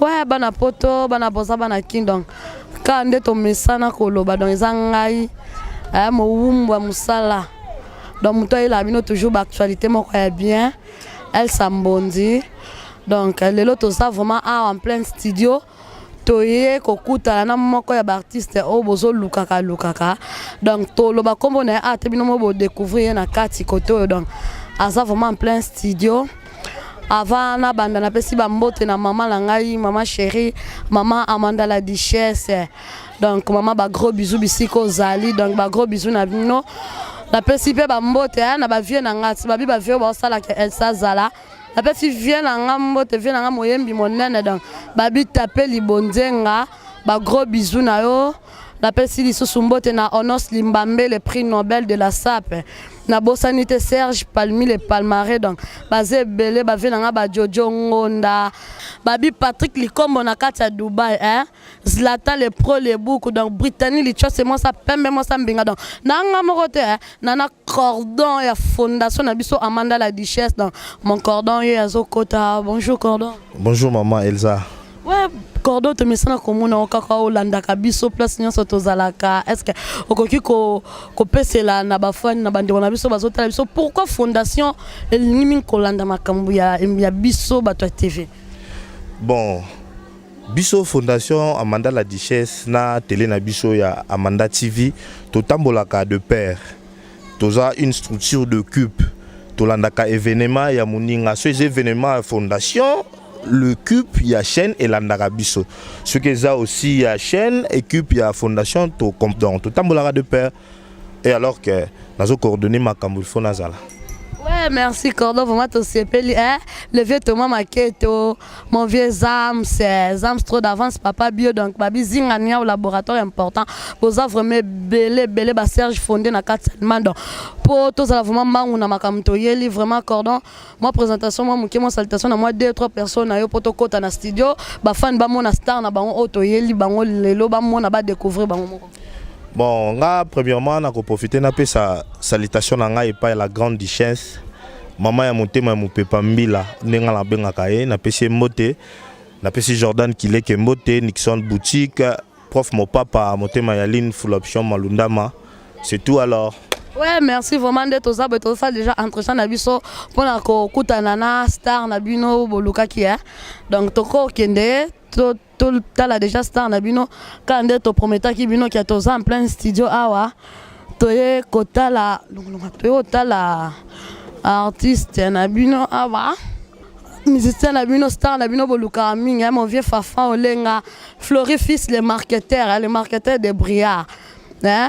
Ouais, bana poto, bana boza, bana kin donc ka nde tomesana koloba donc eza ngai eh, mowumbu ya mosala donc moto ayelaka bino toujours baactualité moko ya bien elsa mbondi donc lelo toza vraiment awa en plein studio toye kokutana na moko ya baartiste oyo bozolukaka lukaka donc toloba nkombo na ye ata bino mo bodecouvrir ye na kati kote oyo donc aza vraiment en plein studio avant nabanda napesi bambote na mama na ngai mama chérie mama amanda la duchesse donc mama bagros bisou bisika ozali donc bagros bisou na bino napesi mpe bambote eh, na bavie na ngai babi bavie oyo baosalaka elsa zala napesi vie na ngai mbote vie na ngai moyembi monene donc babi tape libonzenga bagros bisou na yo napesi lisusu mbote na honos limbambe le prix nobel de la sape nabosani te serge palmi le palmare donc baza ebele bave na ngai bajojo ngonda babi patrick likombo na kati ya dubai eh? zlata le pro le buku donc britannie lichose mwasa pembe mwasa mbinga donc na ngai moko te eh? na na cordon ya fondation na biso amanda la duchesse donc mon cordon ye azokota bonjour cordon bonjour maman elsa Ouais, cordo tomesana komona yo kaka olandaka biso place nyonso tozalaka est ce que okoki kopesela na bafani na bandeko na biso bazotala biso pourquoi fondation elingi mingi kolanda makambo ya, ya biso bato ya tv bon biso fondation amanda la duchesse na tele na biso ya amanda tv totambolaka de père toza une structure de cupe tolandaka evenema ya moninga so eza evenema ya fondation le cupe ya chaîne elandaka biso soki eza aussi ya chaîne ecupe ya fondation tocomdon totambolaka de père et alors que nazo coordonne makambo il faut nazala ouais merci cordon vraiment tosepeli eh? le vieux thomas maketo Mon vieux Zams, euh, Zams trop d'avance, papa bio, donc babi zinga niya au laboratoire important. Boza vraiment belé, belé, ba Serge fondé na 4 mando. Po tous la vraiment mangu na makamto yeli, vraiment cordon. Moi présentation, moi mouké, moi salutation, na moi deux, trois personnes, na yo poto kota na studio. Ba fan ba mona star na bango auto yeli, bango lelo, ba mona ba découvrir bango moko. Bon, nga premièrement, na ko profiter na pesa salutation na nga epai la grande duchesse. Mama ya motema ya mopepa mbila ndenge nga nabengaka ye napesi ye mbote napesi Jordan Kileke mbote Nixon boutique prof mopapa motema ya line full option malundama c'est tout alors Ouais, merci vraiment nde toza boye tozosala déjà entretien na biso mpona kokutana na star na bino bolukaki e donc tokokende totala deja star na bino kaka nde toprometaki bino kia toza en plein studio awa toye kotala longolonga toye kotala artiste na bino awa musicien na bino star na bino bolukaka mingi eh, mon vieux fafa olenga florifis le marketeur eh, le marketeur de briard eh?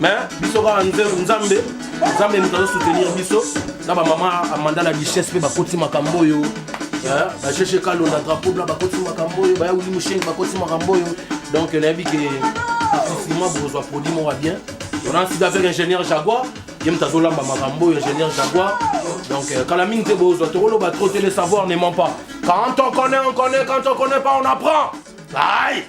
mais biso kaka nzambe nzambe moto azo soutenir biso na bamama amanda na duchesse mpe bakoti makambo oyo bacheche kalo na drapeau bla bakoti makambo oyo baya wili mushenge bakoti makambo oyo donc nayebi ke approfilima bokozwa produit moko ya bien on a sida avec ingénieur jaguar ye moto azolamba makambo oyo ingénieur jaguar donc euh, kala mingi te bozwa tokoloba trop te le savoir ne ment pas quand on connaît on connaît quand on connaît pas on apprend aïe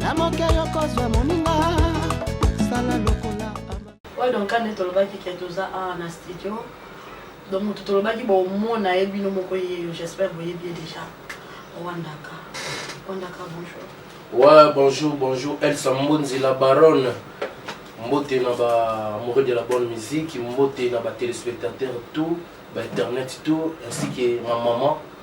na moke yo kozwa moninga sala lokola oyo donc kande tolobaki ke toza awa na studio donc moto tolobaki bomona ye bino moko yeyo j'espère boyebi ye déjà rwandaka rwandaka bonjour ouais bonjour bonjour elsa mbonzi la baronne mbote na ba amoureux de la bonne musique mbote na ba téléspectateurs tout ba internet tout ainsi que ma maman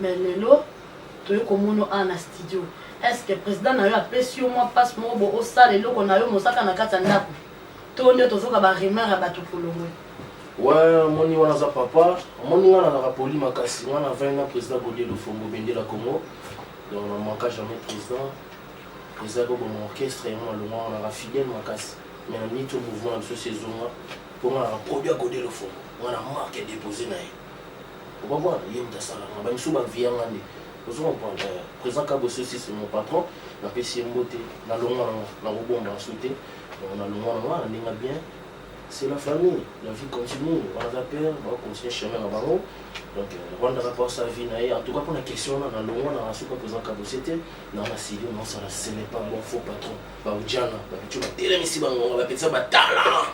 Mais lelo toye komono awa na studio est ce que president nayo apesi yo mwa passe moko bo osala eloko nayo mais oza kaka na kati ya ndaku to nde tozoka ba rumeur ya batu kolongwe. Ouais, omoni wana aza papa, omoni nga nazalaka poli makasi, nga na 20 ans président Godier Lofombo bendela Congo, donc na manka jamais président, président akoboma orchestre yango alongwa wana nazalaka fidèle makasi, mais na niti mouvement na biso si ezonga, mpo nga nazalaka produit ya Godier Lofombo, nga na marque ya dépose na ye. okomona ye moto asalaka bamisusu baviya nga nde ozo comprendre euh, président kabo sosi c'est mon patron napesi ye mbote nalongwa nango nakobomba nsu te nalongwa nango wana ndenge bien c'est la famille la vie continue banaza père bacontinue chemin na bango donc rwandaka mpo asa vie na ye en tout cas mpona question wana nalongwa na nasuka président kabo se te na masili naosala ce n'est pas bon faux patron baujana bapico batelemisi bangonga bapetisa batala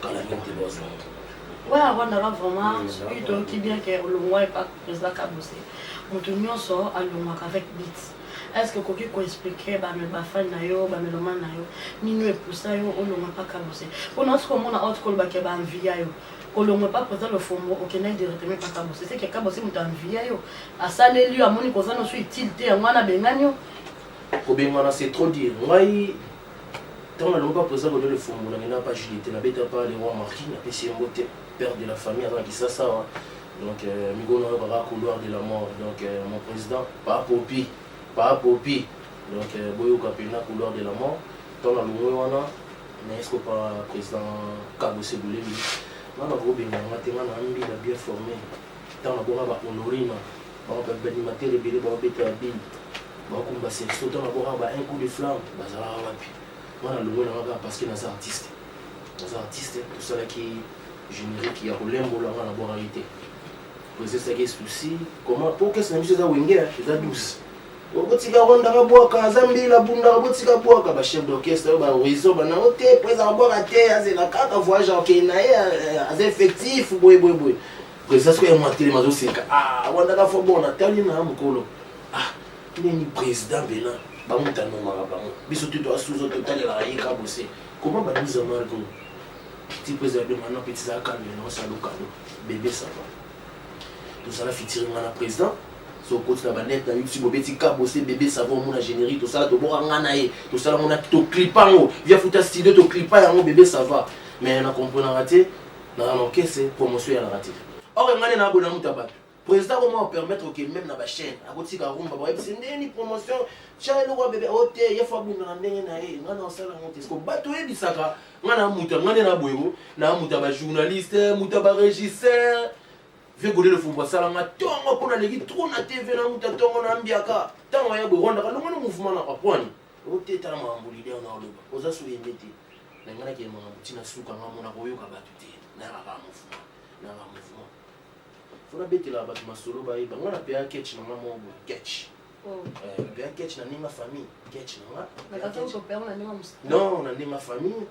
kala mingi te bazonga Wana Rwanda lwa vraiment soki toyoki bien ke olongwa epa président Kabuse moto nyonso alongwaka avec bit est ce que okoki koexplike bafani na yo bamelomane na yo nini epusa yo olongwa epa Kabuse mpo na oti komona oti koloba ke baanviya yo kolongwa epa président Lofombo okendaki directement epa Kabuse seke Kabuse moto anviya yo asaleli yo amoni koza noso utile te yango wana abengani yo kobengana c'est trop dire ngai Ntango nalongi mpa President Godole Fumbu na kenda mpa JDT na beta mpa le roi Marquis na pesi ye mbote père de la famille aza na Kisasa awa donc euh, mikolo na yokaka couloir de la mort donc euh, mon président pa popi pa popi donc euh, boyoka mpenza couloir de la mort ntango nalongwe wana mais esko pa président Kabo Sebulemi nga nakobenga nga te nga na mbila bien formé ntango nabonga ba honorina Bango ba animateur ebele ba obeta ya bini. Ba kumba se so tanga bo ba un coup de flamme bazala wapi. Moi na longo na nga parce que na za artiste. Na za artiste to sala ki générique ya kolembo la nga na bora yite. Poser ça qui souci comment pour que ça ne soit wenge za douce. okotika ronda kabwaka aza mbila bunda okotika bwaka ba chef d'orchestre oyo ba horizon bana o te po ezaka bwaka te azela kaka voyage akei na ye aza effectif boye boye boye Président soki ya mwatelema azoseka ah wandaka fo bon natali na mokolo ah nini président bena bango tanomaka bango biso te toasuzo totalelaka ye kabose koma baduza marko ti président de maintenant pe tizala calme na osala lokalo bebe sava tozala fitiri nga na président sokoti na banete na yo ti bobeti kabose bebe sava omona générique tosala toboka nga na ye tosala mona toklipa yango via futa studio toklipa yango bebe sava mais na comprenaka te Na na orchestre promotion ya la te. Or nga ne na abona muta batu. Président comment on permettre que même na ba chaîne akotika rumba ba yebisi ndeni promotion tia eloko bebe o oh, te ye faut abunda na ndenge na ye nga na osala ngo te siko bato oyebisaka nga na muta nga ne na boyebo na muta ba journaliste muta ba régisseur vie gode le fumbo asala nga tongo mpo naleki trop na tv na muta tongo na ambiaka ntango ya boye rwandaka longo na mouvement na papwani oteta makambo lide wana oloba oza so yembe te na ngai nakende makambo ntina suka ngai mona koyoka bato te nayaka kaka mouvement nayaka mouvement fo nabetelaka bato masolo bayeba ngai napeya ketch na ngai moko boye ketch oh. eh, napeya ketch na ndenge famille ketch na nganon na ndenge famille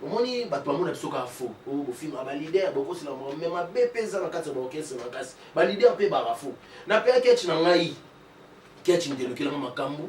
omoni bato bamona biso kaka fo oh, bofingaka ah, balider bokosela moko me mabe mpe eza na kati ya baorkestre makasi balider mpe baka fo napeya ketch na ngai ketch ndelukelanga makambo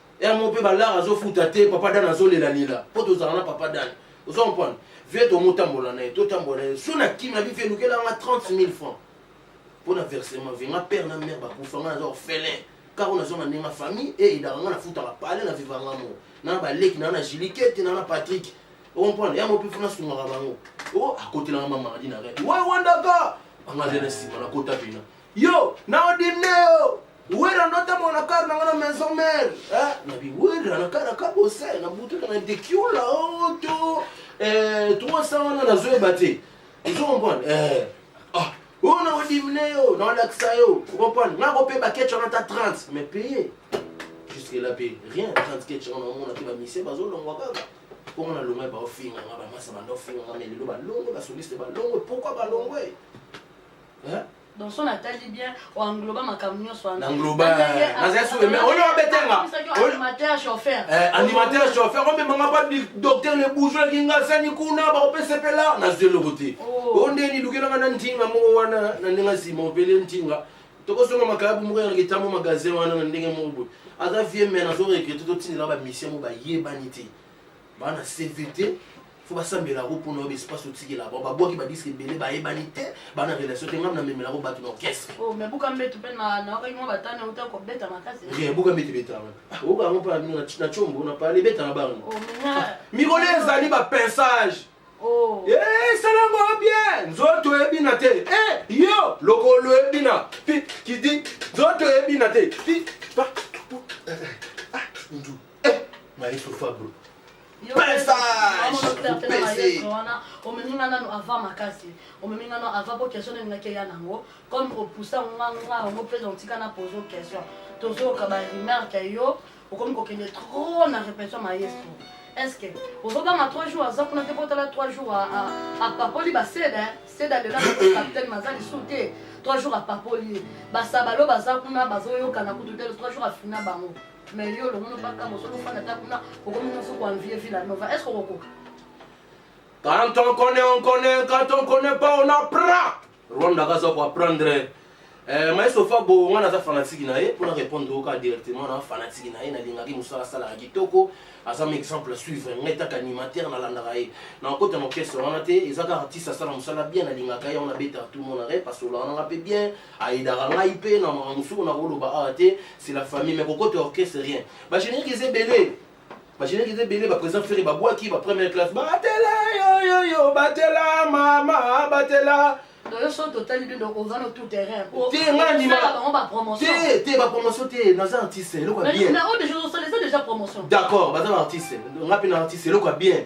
yango mpe balar azofuta te papa dan azolelalela mpo tozala na papa dan ozo comprendre vie tomotambola na ye totambola na ye so na kimi na bife elukela nga 30 000 francs mpo na versement vie nga père na mère bakufa nga naza orphelin kaka nazo na ndenge famille e edaka nga nafutaka pale na viva nga moko na baleki na na jilikete na na patrick okomprendre yango mpe funa asungaka bango o oh, akotelanga mamaradi na rete we wandaka anga aza na nsima nakota pena yo na odimne yo Wera ndo ta mona kar na nga na maison mère. Hein? Na bi wera na kara ka bosse na butu na dekiola oto. Eh 300 wana na zo ebate. Ozo comprendre? Eh. Ah, oyo na odimine yo, na olakisa yo. Vous comprenez? Nga ko pe ba ketch wana ta 30 mais payer. Jusque là pe rien 30 ketch wana mona pe ba mise ba zo longwa kaka. Comment na longwa ba ofinga nga ba masa ba ndofinga nga mais lelo ba longo ba soliste ba longo pourquoi ba longo? Hein? donc so natali bien oengloba makambo nyonso wana engloba naza sure mais oyo obetenga animateur chauffeur eh, animateur chauffeur omemanga ba docteur le bourgeois kingasani kuna bakopesa mpe lar nazwi eloko te oh. o nde nilukelanga na ntinga moko wana na ndenge nsima obele ntinga tokosonga makayabu moko yango etambo magasin wana na ndenge moko boye aza vie me nazo regrete totindela bamisie mo bayebani te ba na cvt fo basambela yango mpona oyo espace otikela bango babwaki badiske ebele bayebani te bana relation te ngai namemela yango bato na orchestre oh, buka mbete mpe naokaki mwa batana uta kobeta makasi eh, buka mbete betanga ah, oyoka yango mpa bino na combo na pale ebeta na bango oh, ah, mikolo ezali bapensage oh. eh, esalango bien nzoto ebina te yo lokolo ebina kidi nzoto ebina te Eh, maestro Fabro. wana omemi nga nano ava makasi omemi nga nano ava po question nalingaki eya nango comme opusa nga nga yango mpe otika na pose question tozoyoka baremarke ya yo okomi kokende trop na répétition maestro est ce que ozobanga trois jours aza kuna te kotala trois jours apapoli baseda seda lela capitaine maza lisu te trois jours apapoli ye basabalo baza kuna bazoyokana kutu te trois jours afina bango Mais yo le monde pas comme on se fana ta kuna okomi na soko envier Villa Nova est-ce qu'on okoka Quand on connaît on connaît quand on connaît pas on apprend Rwanda kaza ko apprendre eh, maestro fabo nga naza fanatiki na ye mpona répondre oka directement na fanatiki na ye nalingaki mosala asalaka kitoko aza ma exemple suivre ngai taka animateur nalandaka ye na okota na orchestre wana te eza kaka artiste asala mosala bien nalingaka ye wana abetaka tout monare pasolaka nanga mpe bien Aidaka ngai pe na makambo mosusu na koloba awa te, c'est la famille mais kokota orchestre rien. Ba générique eza ebele. Ba générique eza ebele, ba président Ferre ba bwaki ba première classe batela yo yo yo batela mama batela Doyo so totali bino oza na tout terrain. Te nga ndima. Bango ba promotion. Te te ba promotion te naza artiste eloko ya bien. Mais oyo déjà osala eza déjà promotion. D'accord baza ba artiste nga pe na artiste eloko ya bien.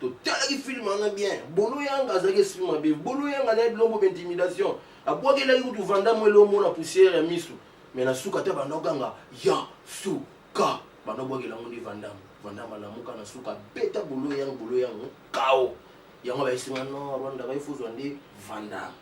totalaki filme wana bien bolo yanga azalaki esprit mabe bolo yanga naye bilombo ba intimidation abwakelaki kutu vandamo elombo na poussière ya misu me na suka ata banda oganga ya suka banda obwakela yango nde vandamo vandamo alamuka na suka beta bolo yango bolo yango kao yango bayesinga no rwanda baye fozwa nde vandamo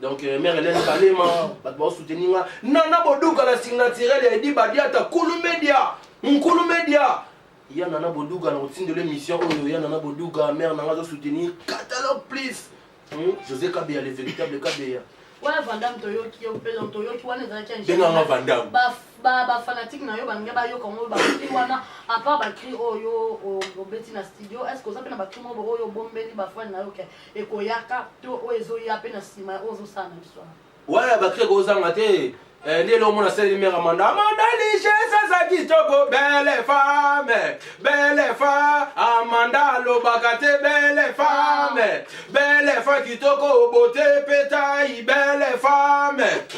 donc euh, mère Hélène Kalema bato bao soutenir nga na na boduka na signaturel ya Edi Badiata Kulu Media Nkulu Media ya nana boduga na kotindela émission oyo ya nana boduga mère nanga azo soutenir catalogue plus hmm? José Kabeya le véritable Kabeya wana vandam toyoki yo mpe donc toyoki wana ezalaki benganga vandam bafanatique na yo balingi bayoka yango bakri wana apart bakri oyo obeti na studio est ce que oza mpe na bakri moko oyo obombeli bafani na yo ke ekoyaka to oyo ezoya mpe na nsima ya oyo ozosala na biso awa wana bakri ekozanga te eh, nde elongo na seli mera manda amanda liges aza kitoko bele fame bele fa amanda alobaka te bele fame bele fa kitoko bote petai bele fame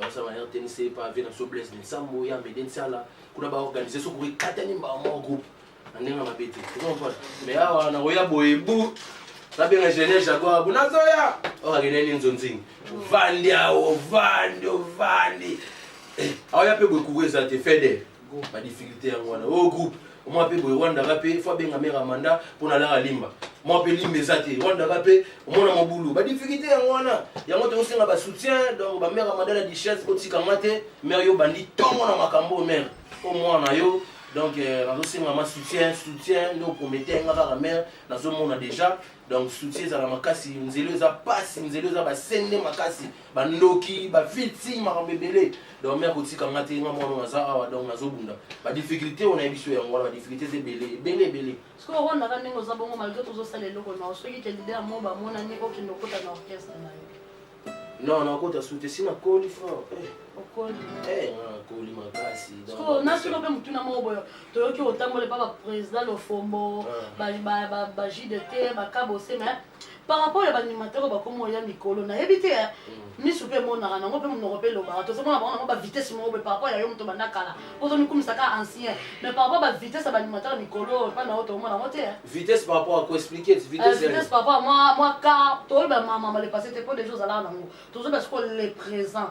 baza ba rtnc pave na biso blaise linsambo ya mede nsala kuna baorganize soki ekatani mbaa moko groupe na ndenge ya mabe te ozompona me awa nakoya boye bu nabenga gene jaguar bu nazoya okakende nini nzonzingi ovandi awa ovandi ovandi aoya mpe boye kuku eza te fede ba difficulté yango wana oyo groupe omwa mpe boye rwandaka mpe fo abenga mare amanda mpo na laka limba mwa mpe limba eza te rwandaka mpe omona mobulu ba difficulté yango wana yango tokosenga ba soutien donc ba mare amanda na dichesse kotika nga te mare yo bandi ntongo na makambo oyo mare mpo mwana yo donc euh, nazosenga ma soutien soutien nde opromete nga kaka mare nazomona déjà donc soutien ezala makasi nzelo eza mpasi nzelo eza basende makasi ba ndoki ba fiti makambo ebele donc mère kotika nga te nga mwana naza awa donc nazobunda ba difficulté oyo nayebi biso yango wana ba difficulté eza ebele ebele ebele sikoyo okondaka ndenge oza bongo malgré tozosala eloko nao soki te leader mo bamonani okende okota na orchestre na yo non nakota su te si nakoli fort eh. okoli eh, nakoli makasi nasolo mpe motuna moko boyo toyoki otambola epa baprésident lofombo ah. bajide te bakabose mais par rapport ya baanimateur bakomi oya mikolo nayebi te eh. mm. misu mpe emonaka nango mpe monoko mpe elobaka tozomona bango nango bavitesse moko boye par rapport ya yo moto banda kala mpo ozomikumisa ka ancien mais par rapport bavitesse ya baanimateur mikolo oyo mpa na yo toomona yango te eh. vitesse par rapport akoexplike eh, vitesse par rapport mwa car toyeba mamama le passé te mpo deja ozalaka nango tozoba sikoyo le présent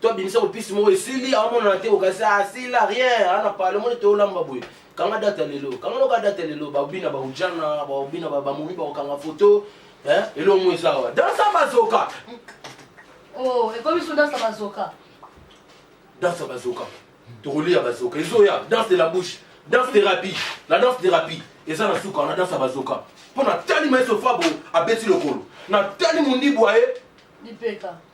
to abimisa kopisi moko esili amonana te okasi asila ah, rien ana ah, pale moni tolamba boye kanga data lelo kanga loka data lelo babina baujana babina bamomi bakokanga foto eh, elongo eza awa dansa bazoka oh, ekomi so dansa bazoka dansa bazoka tokolia bazoka ezoya danse de la bouche danse thérapie la danse thérapie eza na suka na danse ya bazoka mpo natali maestro fabo abeti lokolo natali mondibu aye lipeka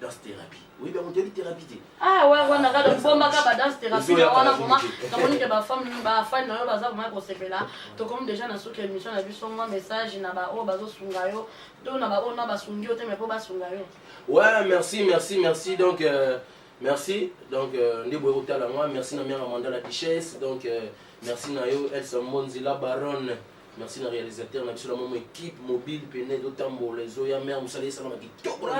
danse therapie oyebi yango toyebi therapie te ah ouais ouais na kado bomba ka ba danse therapie na wana vraiment na moni ke ba femme ba fan na yo baza vraiment kosepela to comme déjà na suka émission na biso mwa message na ba oyo bazo sunga yo to na ba oyo na ba sungi yo te mais po ba sunga yo ouais merci merci merci donc euh, merci donc euh, nde boye kotala moi merci na mère amanda la duchesse donc euh, merci na yo elsa monzila baronne merci na réalisateur na biso na mama équipe mobile pene ezotambola ezoya mare mosala esalama kitoko na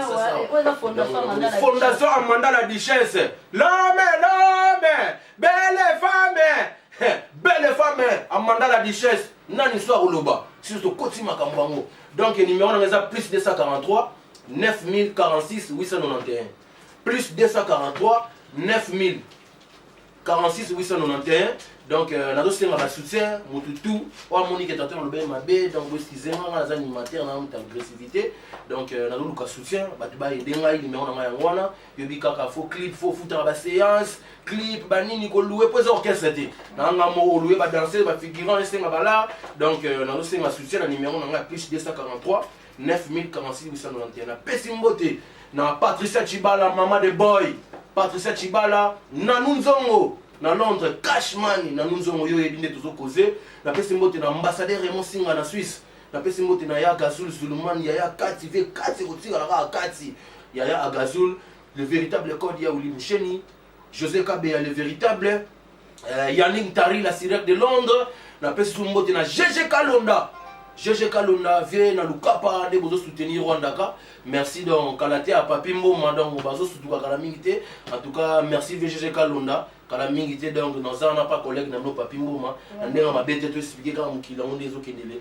misasafondation amanda la duchesse lome lome belle femme belle femme amanda la duchesse nani so akoloba siso tokoti makambo yango donc numéro nanga eza plus 243 9046 891 plus 243 9000 46 891 donc euh, nazosenga ba soutien motu tout oyo amoni ke tantôt nalobeli mabe donc boeskize nga nga naza animateur na mutu agressivité donc euh, nazoluka soutien bato baede ngai nimero na ngai yango wana yobi kaka fo clip fo futaka baséance clip banini koloue mpo eza orchestre te nanga moko oloue badanse bafigurant esenga balar donc euh, nazosenga soutien na nimero na ngai ya plus 243 9046891 napesi mbote na patricia chibala mama de boy patricia chibala nanu nzongo na londres cash money nanu nzongo yo oyebi nde tozokoze napesi mbote na ambassadeur raymond singa na suisse napesi mbote na ya gazul zuluman yaya kati ve kati kotikala kaka kati yaya agazul le véritable code ya olimusheni José Kabeya le véritable euh, Yannick Tari la sirène de Londres na pesi su mbote na GG Kalonda GG Kalonda vie na lukapa nde bozo soutenir Rwanda ka merci donc kala te a papi mboma donc bazo sutuka kala mingi te en tout cas merci vie GG Kalonda kala mingi te donc naza na pa collègue na no papi mboma na ndenge mabe te to expliquer kaka mokili yango nde ezokendele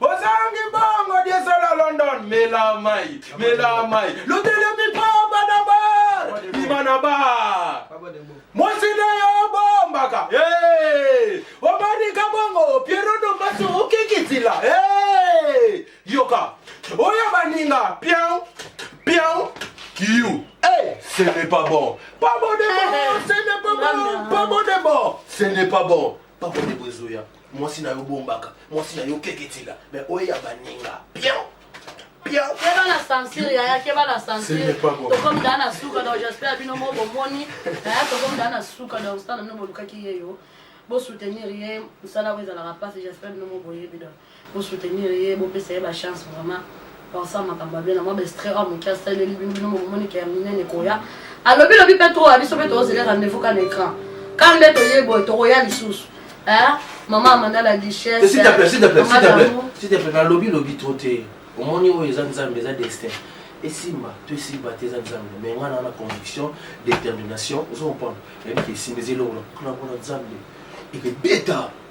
ozangi bongo diesola london mela mai mela mai lotelemi pamba na bar bima na bar mwasi na yo bombaka hey! omanika bongo piero dombasi okikitila hey! yoka oyo baninga piau piau kiu Hey, ce n'est pas bon. Pas bon de bon, ce n'est pas bon. Pas bon de bon, ce n'est pas bon. papa ndeko ezoya mwasi na yo bombaka mwasi na yo keketila me oyo ya baninga piao piao keba na censure yaya keba na censure tokomi daa na suka donc j'espère bino mo bomoni yaya tokomi daa na suka donc stana bino bolukaki ye yo bosoutenir ye mosala oyo ezalaka mpasi j'espère bino mo boyebi donc Bo soutenir ye, bo pesa ye ba chance vraiment. Pensa makambo abela mwa bestre oyo moke asaleli bino bino bokomoni ke ya minene koya. Alobi lobi pe trop, biso pe tozela rendez-vous ka na écran. Ka nde toye boye tokoya lisusu. Hein? Maman Amanda la duchesse. S'il te plaît, s'il te plaît, s'il te plaît. S'il te plaît, na lobi lobi trop te. Omoni oyo eza Nzambe, eza destin. esimba to esimba te eza nzambe me ngai naa na conviction détermination ozo comprendre nayebi ke esimba eza eloko na kuna mpona nzambe ekebeta